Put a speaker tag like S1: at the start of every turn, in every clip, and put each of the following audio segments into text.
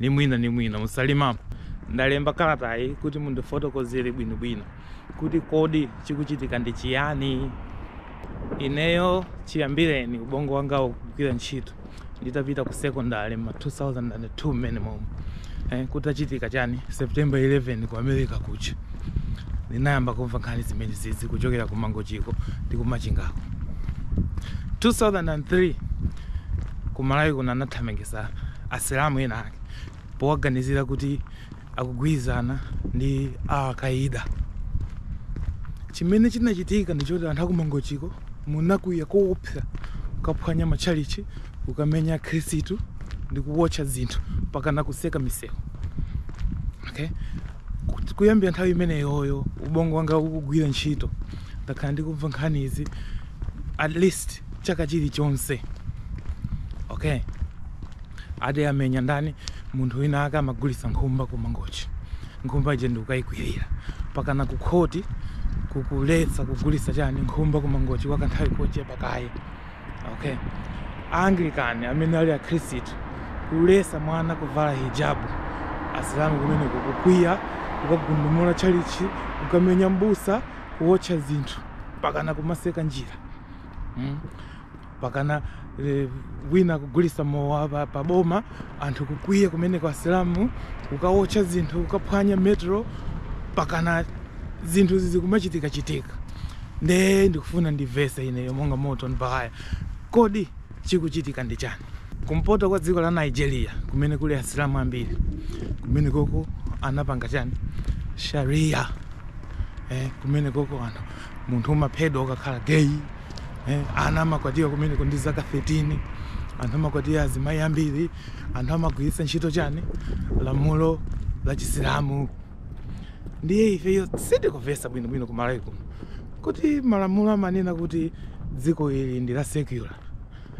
S1: ni mwina ni mwina mu Salima Ndalemba kalatayi kuti mundifotokozere bwinobwino kuti kodi chikuchitika ndi chiyani ineyo chiyambireni ubongo wanga ukugwira ntchito nditapita ku secondary ma 2002 mmene momwe eh, kutachitika chani september 11 ku America kuja ndinayamba kumva nkhani zimenezizi kuchokera ku Mangochiko ndi ku Machingako 2003 Ku Malawi kuno anathamangisa asilamu enaake powaganizira kuti akugwirizana ndi Al Qaeda. Chimene chinachitika ndi choti anthu aku Mangochiko munakwiya koopsa kukaphwanya matchalichi, kukamenya akhristu ndi kuwotcha zinthu mpakana kutseka misewu. Okay? Kut- Kuyambira nthawi imeneyoyo ubongo wanga ukugwira ntchito ndakhala ndikumva nkhani izi at least chaka chilichonse okay ati amenya ndani munthu winawake amagulitsa nkhumba ku mangochi nkhumba ija ndikukayikwirira mpakana ku khoti kukuletsa kugulitsa chani nkhumba ku mangochi kwa kanthawi kochepa kaye okay anglican amene ali akhristu kuletsa mwana kuvala hijabu asilamu kumeneku kukwiya kukagundumula tchalichi kukamenya mbusa kuwotcha zinthu mpakana kumatseka njira mm. mpakana e, wina kugulitsa mowa pa, pa boma anthu kukwiya kumeneku asilamu kukaotcha zinthu kukaphwanya Metro mpakana zinthu zizi kumachitikachitika nde ndikufuna ndimvetse ineyo monga Morton Baghaya kodi chikuchitika ndi chani kumpoto kwa dziko la nigeria kumene kuli asilamu ambiri kumenekoko anapanga chani sharia eh, kumenekoko anthu munthu umaphedwa ukakhala gay eh, ana amakwatiwa kumeneko ndi zaka 13 anthu amakwatira azimayi ambiri anthu amagwiritsa ntchito chani lamulo la chisilamu ndiye ifeyo sitikumvetsa bwinobwino ku malawi kuno kuti malamulo amanena kuti dziko ili ndi la secular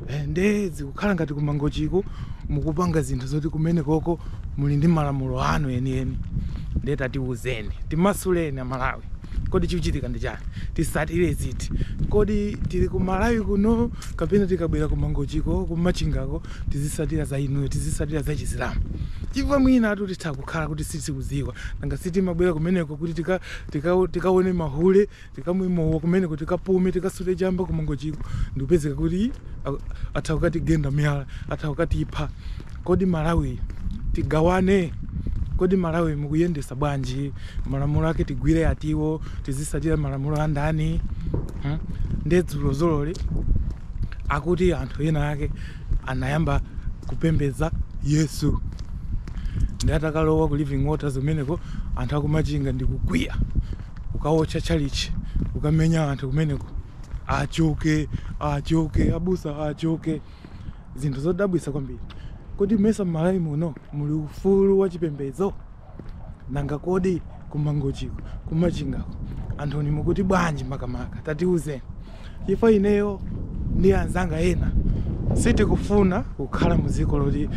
S1: Eh, nde zikukhala ngati ku Mangochiko mukupanga zinthu zoti kumenekoko muli ndi malamulo anu enieni nde tatiuzeni timasuleni amalawi kodi chikuchitika ndi chani titsatire ziti kodi tili ku malawi kuno kapena tikabwera ku Mangochiko ku Machingako tizitsatira za inuyo tizitsatira za chisilamu chifukwa mwina anthu titha kukhala kuti sitikudziwa nanga sitimabwera kumeneko kuti tika- tika- tikaone mahule tikamwe mowa kumeneko tikapume tikasute chamba ku mangochiko ndikupezeka kuti a- atha kukatigenda miyala atha kukatipha kodi malawi tigawane kodi malawi mukuyendesa bwanji malamulo ake tigwire atiwo tizisatira malamulo a ndani hmm? nde dzulo zololi akuti anthu ena ake anayamba kupembedza yesu ndi atakalowa ku living waters kumeneko anthu akumachinga ndikukwiya kukawotcha tchalitchi kukamenya anthu kumeneko achoke achoke abusa achoke zinthu zodabwitsa kwambiri kodi mesa m'malawi muno muli ufulu wa chipembedzo nanga kodi kumangochiko kumachingako anthuni mukuti bwanji makamaka tatiuzeni chifukwa ineyo ndi anzanga ena sitikufuna kukhala mu dziko loti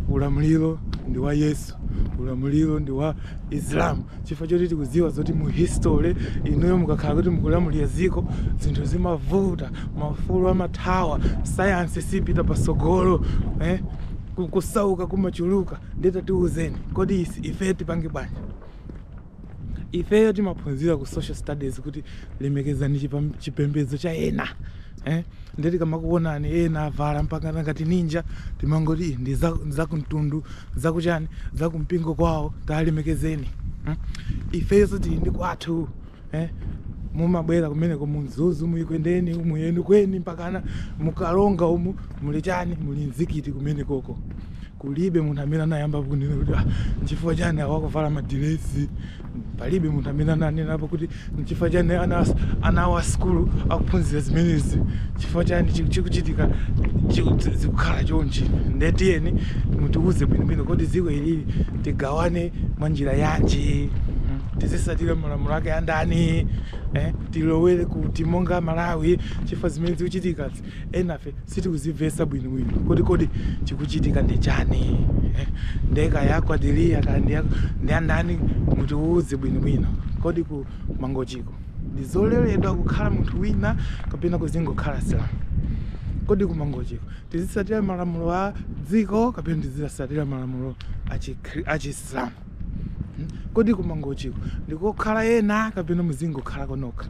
S1: ulamuliro ndi wa yesu ulamuliro ndi wa islam chifukwa choti tikudziwa zoti mu history inuyo mukakhala kuti mukulamulira dziko zinthu zimavuta maufulu amathawa sayansi siipita patsogolo eh? kusauka kumachuluka nde tatiuzeni kodi ife tipange bwanji Ifeyo timaphunzira ku social studies kuti lemekezani chipembedzo cha ena eh? Ndiye tikamakuonani ena avala mpaka ngati ninja timangoti ndi zakumtundu zakuchani zakumpingo kwawo talemekezeni hmm? Ifeyonso tili ndi kwathu eh? mumabwera kumeneko munzuzu muEkwendeni umu eni kweni mpakana muKaronga umu muli chani muli mzikiti kumenekoko Kulibe munthu amene anayambapo kunena kuti ah, nchifukwa chani awa akuvala madiresi. Palibe munthu amene ananenapo kuti nchifukwa chani ana ana awo a sukulu akuphunzira zimenezi, chifukwa chani chi- chikuchitika chi- zi- zikukhala chonchi. Nde tiyeni mutiwuze bwinobwino kodi dziko ilili tigawane mwa njira yanji, Mm, tizisatira malamulo ake andani, eh, tilowere kuti monga Malawi chifukwa zimene zikuchitikazi enafe sitikuzimvesa bwino bwino kuti kodi chikuchitika ndi chani eh, nde kaya kwa Delia kaya ndi ya- ndi andani mutiwuze bwino bwino kodi ku mangochiko ndi zololedwa kukhala munthu wina kapena kuzingokhala asilamu kodi ku mangochiko tizisatira malamulo a dziko kapena tizisatira malamulo a chikri- a chisilamu Hmm? kodi ku mangochiko ndikokhala ena kapena muzingokhala konokha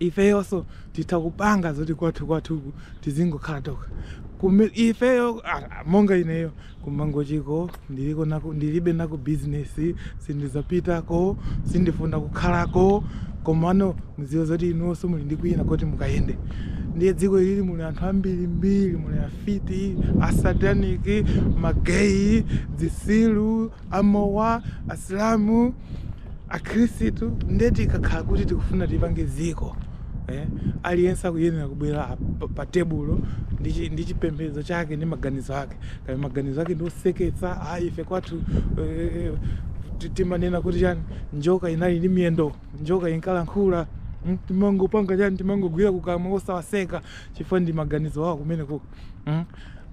S1: ifeyonso Titha kupanga zoti kwathu kwathuku tizingokhala tokha. Kume, ifeyo, a, a, monga ineyo, ku Mangochiko ndili ko-, ndilibe nako business, sindizapitako, sindifuna kukhalako, komano mudziwe zoti inunso muli ndi kwina koti mukayende. Ndiye dziko ilili muli anthu ambirimbiri, muli afiti, asataniki, ma gay, zitsiru. amowa, asilamu, akhristu nde tikakhala kuti tikufuna tipange dziko eh, aliyense akuyenera kubwera pa- pa tebulo ndi chi- ndi chipembedzo chake ndi maganizo ake kaya maganizo ake ndi oseketsa ayi ife kwathu eh, ti- timanena kuti chani njoka inali ndi miyendo njoka inkalankhula mm, timangopanga chani timangogwira kukamwa osawaseka chifukwa ndi maganizo awo kumeneko mm.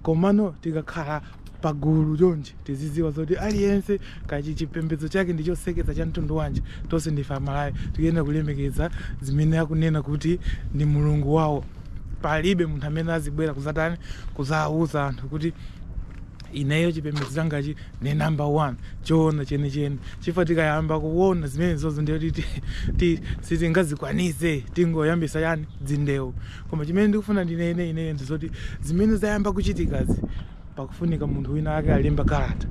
S1: komano tikakhala pagulu chonchi tizidziwa zoti aliyense kaya chipembedzo chake ndi choseketsa cha mtundu wanji tonse ndife amalawi tikuyenera kulemekeza zimene akunena kuti ndi mulungu wawo palibe munthu amene azibwera kuzatani kuzawuza anthu kuti ineyo chipembedzo changachi ndi number one choona chenicheni chifukwa tikayamba kuona zimenezozo ndiye kuti ti- ti- sitingazikwanise tingoyambisa yani dzindewu Koma chimene ndikufuna ndinene ineyo ndi zoti zimene zayamba kuchitikazi pakufunika munthu wina wake alemba kalata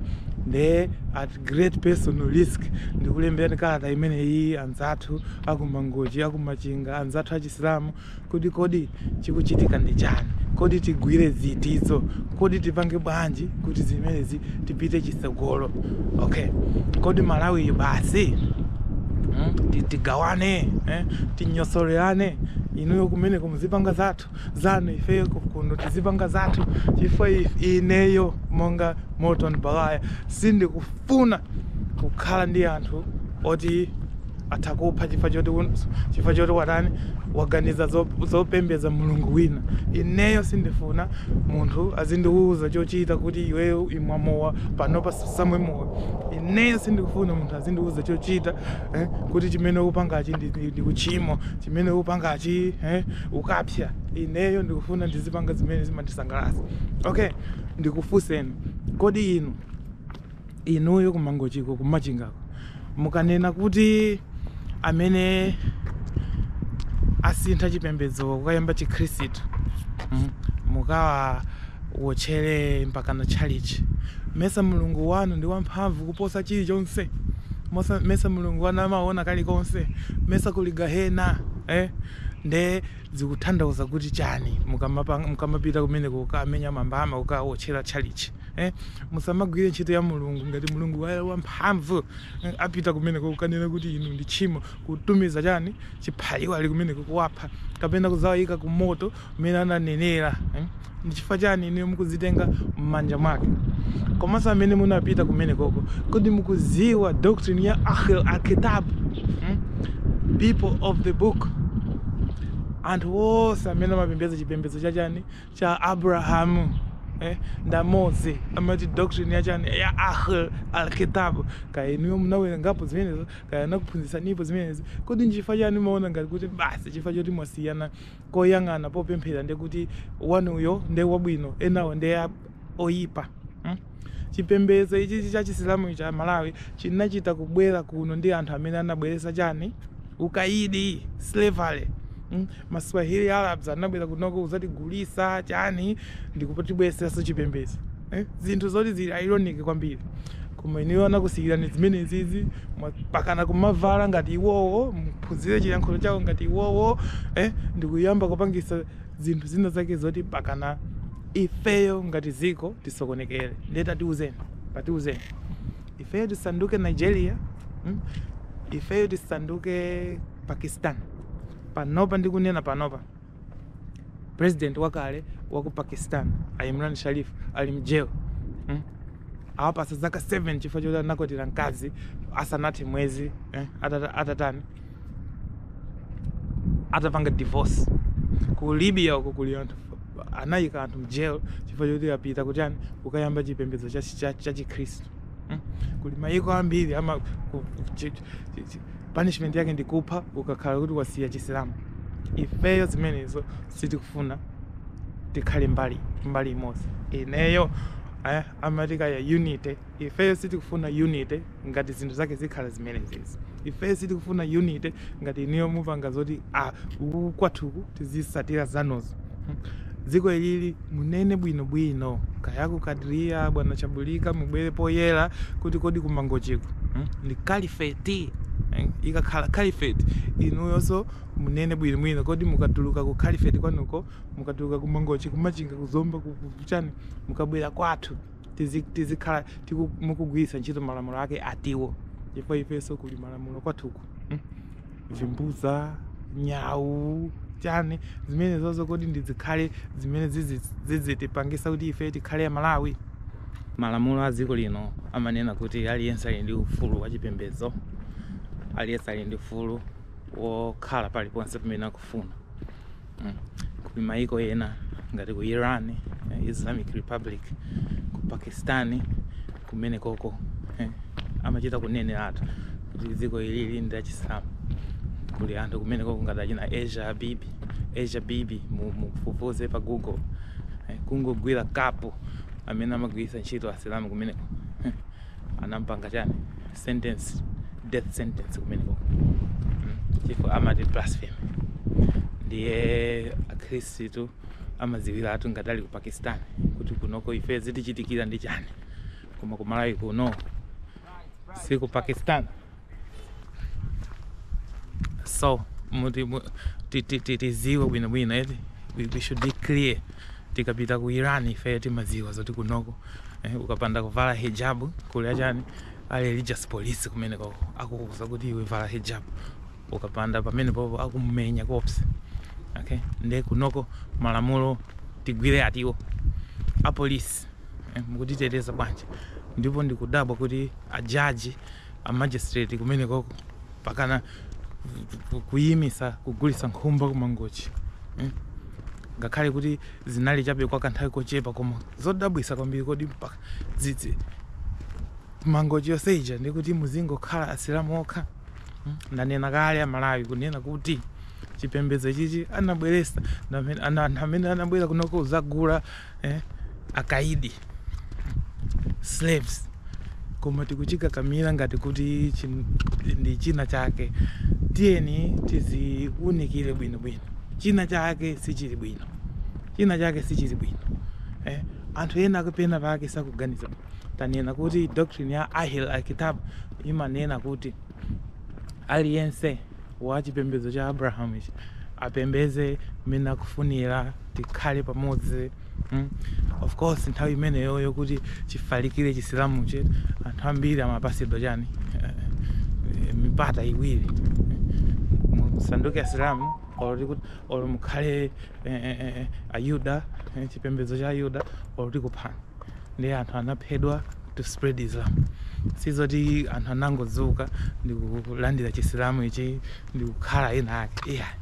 S1: nde at great personal risk ndikulembera kalata imeneyi anzathu aku Mangochi aku Machinga anzathu achisilamu kuti kodi chikuchitika ndi chani kodi tigwire ziti zo kodi tipange bwanji kuti zimenezi tipite chitsogolo okay kodi malawiyo basi hmm? ti- tigawane eh? tinyosolerane inuyo kumeneko muzipanga zathu zanu ifeyo ku- kuno tizipanga zathu chifukwa if- ineyo monga Morton Baghaya sindikufuna kukhala ndi anthu oti atha kupha chifukwa choti un- chifukwa choti watani waganiza zo- zopembedza mulungu wina ineyo sindifuna munthu azindiwuza chochita kuti iweyo imwa mowa panopa usamwe mowa ineyo sindikufuna munthu azindiwuza chochita eh, kuti chimene ukupangachi ndi- ndi ndi uchimo chimene ukupangachi eh, ukapsya ineyo ndikufuna ndizipanga zimene zimandisangalatsa okay ndikufunseni kodi inu inuyo ku Mangochiko ku Machingako mukanena kuti amene asintha chipembedzo kukayamba chikhristu mm, mukawawotchere mpaka na tchalichi mesa mulungu wanu ndi wamphamvu kuposa chilichonse Mosa- mesa mulungu wanu amaona kalikonse mesa kuli gahena eh? nde zikutanthauza kuti chani mukamapa- mukamapita kumeneko kukamenya mambama kukawotchera tchalichi Eh, musamagwire ntchito ya mulungu ngati mulungu wa- wamphamvu eh, apita kumeneko kukanena kuti inu ndi tchimo kutumiza chani chiphaliwali kumeneko kuwapha kapena kuzawayika ku moto umene ananenera eh. ndi chifukwa chani inu mukuzitenga m'manja mwake komanso amene munapita kumenekoko kodi mukuziwa doctrine ya ahl alkitab hmm? people of the book anthu onse amene amapembedza chipembedzo cha chani cha Abrahamu eh, ndi amodzi amati doctrine ya chani ya ahl alkitab kaya inuyo munawerengapo zimenezo kaya anakuphunzitsanipo zimenezi kodi nchifukwa chani mumaona ngati kuti basi chifukwa choti mwasiyana koyang'ana popemphera ndekuti inuyo nde wabwino enawo nde oyipa hmm? Chipembedzo ichi ichi cha chisilamu cha Malawi chinachita kubwera kuno ndi anthu amene anabweretsa chani? Ukaidi, slavery. Mm? Ma Swahili Arabs anabwera kunoko kuzatigulisa chani ndikutibweretseranso chipembedzo. Eh? Zinthu zoti zili ironic kwambiri. Koma inuyo anakusiyirani zimenezizi mwa- pakana kumavala ngati iwowo, muphunzire chiyankhulo chawo ngati iwowo, eh? Ndikuyamba kupangisa zinthu zina zake zoti pakana ifeyo ngati dziko tisokonekere ndiye tatiuzeni tatiuzeni ifeyo tisanduke nigeria mm? ifeyo tisanduke pakistan panopa ndikunena panopa president wakale wa ku pakistan a imran sharif ali mjail mm? awapasa zaka 7 chifukwa choti anakwatira mkazi asanathe mwezi eh? atata- atatani atapanga divorce ku libya uko kuli anthu anayika anthu mjail chifukwa choti apita kutani kukayamba chipembedzo cha- cha- chachikhristu Mm. kuli mayiko ambiri ama ku- ku- chi- chi- chi- punishment yake ndi kupha ukakhala kuti wasiya chisilamu ifeyo zimenezo sitikufuna tikhale mbali mbali imodzi ineyo eh, amati kaya unity Ifeyo sitikufuna unity ngati zinthu zake zikhala zimenezizi. Ifeyo sitikufuna unity ngati inuyo mupanga zoti ah, uku kwathuku tizisatira zanuzo. Hmm. Dziko ilili munene bwinobwino kaya ku Kadria bwana Chabulika mubwere poyera kuti kodi ku Mangochiko hmm? ndi kalifeti hmm? ikakhala kalifeti inuyonso munene bwinobwino kodi mukatuluka ku kalifeti kwanuko mukatuluka ku Mangochi ku Machinga ku Zomba kuchani mukabwera kwathu tizikhala mukugwiritsa ntchito malamulo ake atiwo chifukwa ifenso kuli malamulo kwathuku hmm? vimbuza nyawu chani zimenezozo kodi ndizikhale zimene zizitipangisa kuti ife tikhale amalawi malamulo a dziko lino amanena kuti aliyense ali ndi ufulu wa chipembedzo aliyense ali ndi ufulu wokhala paliponse pamene akufuna mm. kuli maiko ena ngati ku Iran eh, Islamic Republic ku Pakistan kumenekoko eh, amachita kuneneratu kuti dziko ilili ndi lachisilamu kuli anthu kumenekoko ngati achina Asia Bibi Asia Bibi mufufuze pa Google eh, kungogwira kapu amene amagwiritsa ntchito asilamu kumeneko anampanga chani sentence death sentence kumeneko mm, chifukwa amati blasphemy ndiye akhristu amadziwiratu ngati ali ku pakistan kuti kunoko ife zitichitikira ndi chani koma kumalawi kuno si ku pakistan so muti mu- ti- ti- ti- tiziwe bwinobwino eti we, we should be clear tikapita ku iran ife timaziwa zoti kunoko eh, ukapanda kuvala hijabu kuli achani a religious police kumene koko akukuuza kuti iwe vala hijabu ukapanda pamene popo akumenya koopsa okay nde kunoko malamulo tigwire atiwo apolisi eh, mukutiteteza bwanji ndipo ndikudabwa kuti ajaji a magistrate kumenekoko mpakana kuyimisa kugulisa nkhumba ku mangochi mm? ngakhale kuti zinali chabe kwa kanthawi kochepa koma zodabwisa kwambiri kodi mpaka dzidzi mangochi yonse ija ndikuti muzingokhala asilamu okha mm? ndanena kale amalawi kunena kuti chipembedzo chichi anabweresa anthu amene anabwera kunoko kuzagula eh? akaidi slaves koma tikuchikakamira ngati kuti ndi china chake tiyeni tiziunikire bwino bwino china chake sichili bwino china chake sichili bwino eh? anthu ena akuti pena pake sakuganiza tanena kuti doctrine ya ahl al-kitab imanena kuti aliyense wa chipembedzo cha abrahamu ichi apembeze mmene akufunira tikhale pamodzi mm. of course nthawi imeneyoyo kuti chifalikire chisilamu chi anthu ambiri amapasidwa chani eh, mipata iwiri musanduke asilamu olo kuti olo mukhale eh, eh, eh, ayuda eh, chipembedzo cha ayuda olo tikuphana ndiye anthu anaphedwa to spread Islam sizoti anthu anangodzuka ndikulandira chisilamu ichi ndikukhala eni ake iyayi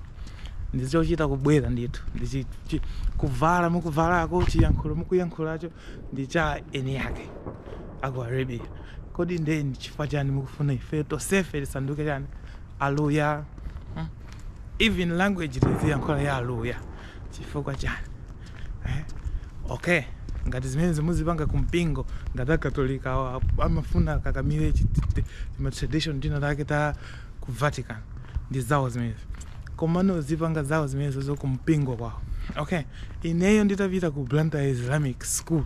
S1: ndizochita kubwera ndithu ndichi chi- kuvala mukuvalako chiyankhulo mukuyankhulacho ndi cha eni yake aku arabia kodi nde ndi chifukwa chani mukufuna ife tosefe tisanduke chani aluya even language tiziyankhula ya aluya Chifukwa chani? Eh? Okay. Ngati zimenezi muzipanga ku mpingo, ngati akatolika awa amafuna akakamire chi- ti- ti- tima tradition tina take ta ku Vatican ndi zawo zimenezo. Komano azipanga zawo zimenezo zo ku mpingo kwawo. Okay. Ineyo nditapita ku Blantyre Islamic School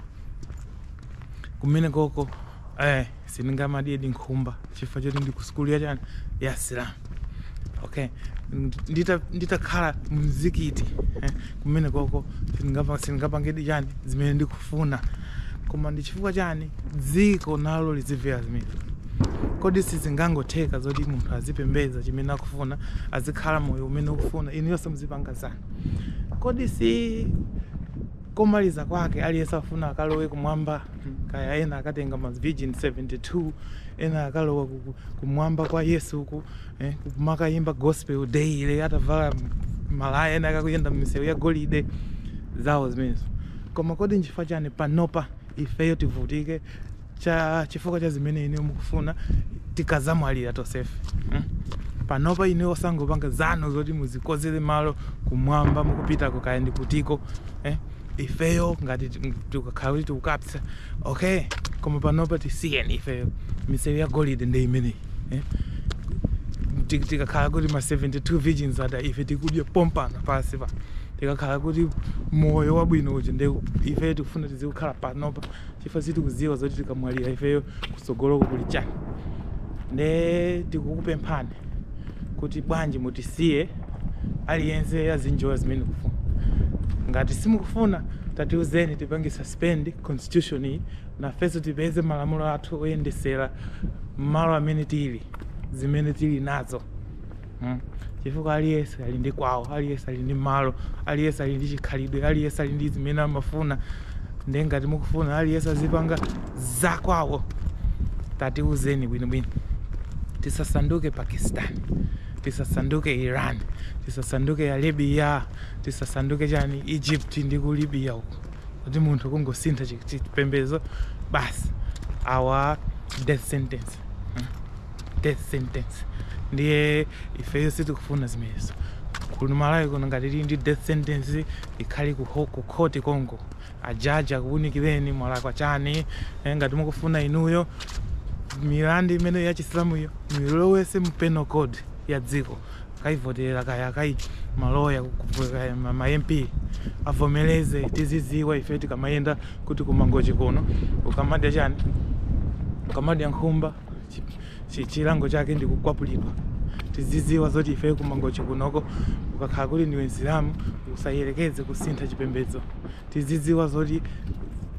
S1: kumene koko eh, sindingamadyedi nkhumba chifukwa choti ndi ku sukulu ya chani ya asilamu okay ndita nditakhala mzikiti eh, kumene koko sindingapa- sindingapangedi chani zimene ndikufuna koma ndi chifukwa chani dziko nalo lizimvera zimenezo kodi sizingangotheka zoti munthu azipembedza chimene akufuna azikhala moyo umene akufuna inuyonse muzipanga zanu kodi si komaliza kwake aliyense afuna akalowe kumwamba kaya ena akatenga ma virgin 72 ena akalowa ku- ku- kumwamba kwa yesu uku eh, kumakayimba gospel daily atavala malaya ena akakayenda m'misewu ya golide zawo zimenezo koma kodi nchifukwa chani panopa ifeyo tivutike cha chifukwa cha zimene inuyo mukufuna tikadzamwalira tonsefe mm? panopa inuyo osangopanga zanu zoti muzikonzere malo kumwamba mukupitako kaya ndi kutiko eh? ifeyo ngati ti- tikakhala kuti tikukapsa okay koma panopa tisiyeni ifeyo misewu ya golide ndi imeneyi eh? Ti- tikakhala kuti ma 72 virgins aja ife tikudya pompano pansi pa tikakhala kuti moyo wabwino uja nde ife tikufuna tizikukhala panopa chifukwa sitikudziwa zoti tikamwalira ifeyo kutsogoloko kuli chani nde tikukupemphani kuti bwanji mutisiye aliyense azinjoya zimene akufuna ngati simukufuna tatiuzeni tipange suspend constitution iyi nafenso tipeze malamulo athu oyendesera mmalo amene tili zimene tili nazo mm? chifukwa aliyense ali ndi kwawo aliyense ali ndi malo aliyense ali ndi chikhalidwe aliyense ali ndi zimene amafuna nde ngati mukufuna aliyense azipanga zakwawo tatiuzeni bwinobwino tisasanduke pakistan tisasanduke iran tisasanduke libya tisasanduke chani egypt ndi ku libya uko kuti munthu kungosintha chi- chipembedzo basi awa death sentence death sentence ndiye ifeyo sitikufuna zimenezo kuno malawi kuno ngati kuli ndi death sentence ikhale ku ho- ku khoti konko ajaji akuwunikireni mwalakwa chani Eh, ngati mukufuna inuyo milandu imene ya chisilamuyo muilowetse mu penal code ya dziko akayivotera kaya kaya maloya kaya ma ma mp avomereze tiziziwa ife tikamayenda kuti ku Mangochi kuno ukamadya chani ukamadya nkhumba chilango chake ndi kukwapulidwa tizidziwa zoti ife ku Mangochi kunoko ukakhala kuti ndiwe msilamu usayerekeze kusintha chipembedzo tizidziwa zoti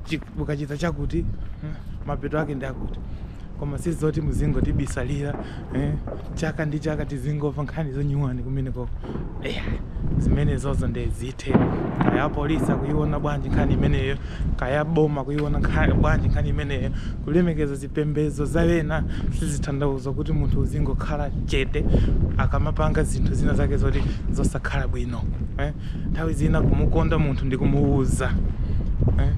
S1: chi- ukachita chakuti eh, mapeto ake ndi akuti koma si zoti muzingotibisalira eh, chaka ndi chaka tizingomva nkhani zonyuwani kumene koko eh, zimene zozo nde zithe kaya polisi kuiona bwanji nkhani imeneyo kaya boma kuiona nkha- bwanji nkhani imeneyo kulemekeza Zipembedzo za wena sizitanthauza kuti munthu uzingokhala chete akamapanga zinthu zina zake zoti zosakhala bwino eh? Nthawi zina kumukonda munthu ndi kumuuza eh?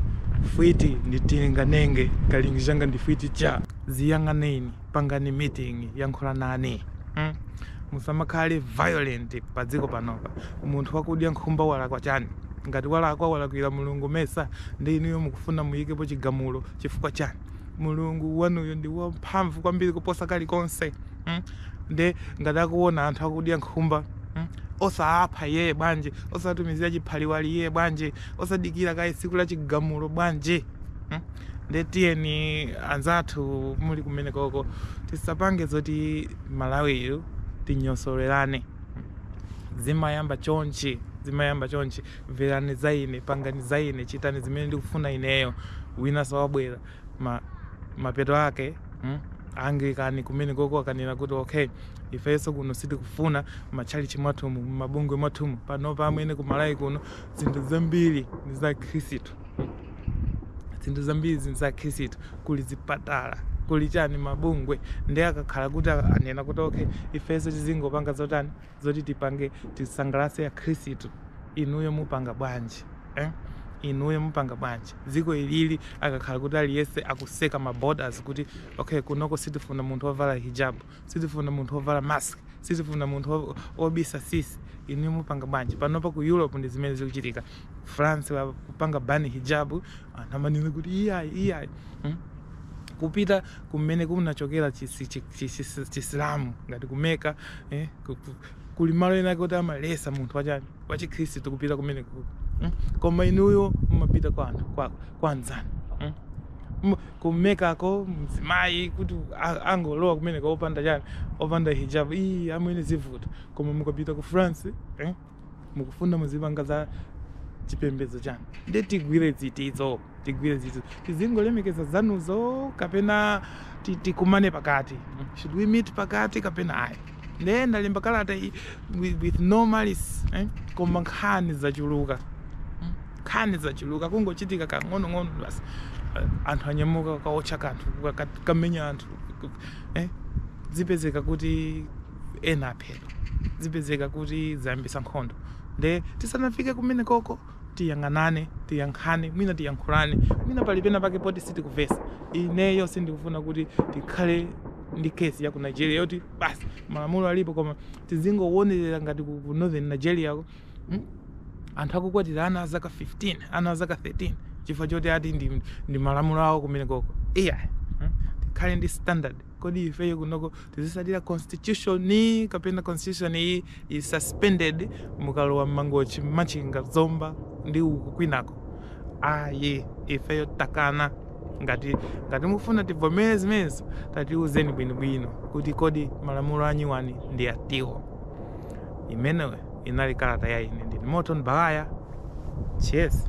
S1: Fwiti ndi tilinganenge kalikonga kanga ndi fwiti tchaa ziyang'aneni, pangani meeting, yankhulanani mm? Musamakhale violent pa dziko panopa. Munthu wakudya nkhumba walakwa chani? Ngati walakwa walakwira Mulungu mmesa nde inuyo mukufuna muyikepo chigamulo chifukwa chani? mulungu wanuyo ndi wamphamvu kwambiri kuposa kalikonse mm? nde ngati akuona anthu akudya nkhumba mm? osaapha iyeyo bwanji osatumizira chiphaliwali iyeyo bwanji osadikira kaye tsiku la chigamulo bwanji mm? nde tiyeni anzathu muli kumene koko tisapange zoti malawiyu tinyosolerane zimayamba chonchi zimayamba chonchi mverani za ine pangani za ine chitani zimene ndikufuna ineyo winanso wabwera ma, mapeto ake mm, anglikani kumene koko akanena kuti okay ifenso kuno sitikufuna matchalichi mwathumu mabungwe mwathumu panopa amwene ku Malawi kuno zinthu zambiri ndi za akhristu zinthu zambiri zinthu za akhristu kuli zipatala kuli chani mabungwe nde akakhala kuti anena kuti okay ifenso tizingopanga zotani zoti tipange tisangalase akhristu inuyo mupanga bwanji eh? inuyo mupanga bwanji dziko ilili akakhala kuti aliyese akuseka ma borders kuti okay kunoko sitifuna munthu ovala hijab sitifuna munthu ovala mask sitifuna munthu o- obisa sisi inuyo mupanga bwanji panopa ku europe ndi zimene zikuchitika France kupanga ban hijab anthu amanena kuti iyayi iyayi hmm? kupita kumene kunachokera chisilamu ngati ku Mecca eh? kuli malo ena kuti amalesa munthu wachani wachikhristu kupita kumene koko hmm? koma inuyo mumapita kwa anthu kwa, kwa anzanu hmm? ku Meccako mzimayi kuti angolowa kumeneko opanda chani opanda hijab iyi amwene zivuta koma mukapita ku france eh? mukufuna muzipanga za chipembedzo chanu nde tigwire zitizo tigwire zitizo tizingolemekeza zanuzo kapena ti- tikumane pakati should we meet pakati kapena ayi nde ndalemba kalata iyi with, with no malice eh? koma nkhani zachuluka Mm. nkhani zachuluka kungochitika kang'onong'ono basi Eh, anthu anyamuka kukaotcha kanthu ka- ka- kamenya anthu eh? zipezeka kuti ena aphedwa zipezeka kuti zayambitsa nkhondo nde tisanafike kumenekoko tiyang'anane tiyankhane mwina tiyankhulane mwina pali pena pake poti sitikumvetsa ineyo sindikufuna kuti tikhale ndi case ya ku nigeria yoti basi malamulo alipo koma tizingowonerera ngati ku ku northern nigeria ko mm, anthu akukwatira ana azaka 15 ana azaka 13 chifukwa choti ati ndi, ndi malamulo awo kumenekoko iya mm, tikhale ndi standard Kodi ifeyo kunoko tizitsatira constitution kapena constitution iyi ili suspended mukalowa mmangochi, machinga, zomba ndi uku kwinako ayi ifeyo takana ngati ngati mufuna tivomere zimenezo tatiuzeni bwinobwino kuti kodi malamulo anyuwani ndi atiwo imeneyo inali kalata ya ine ndine Morton Baghaya cheers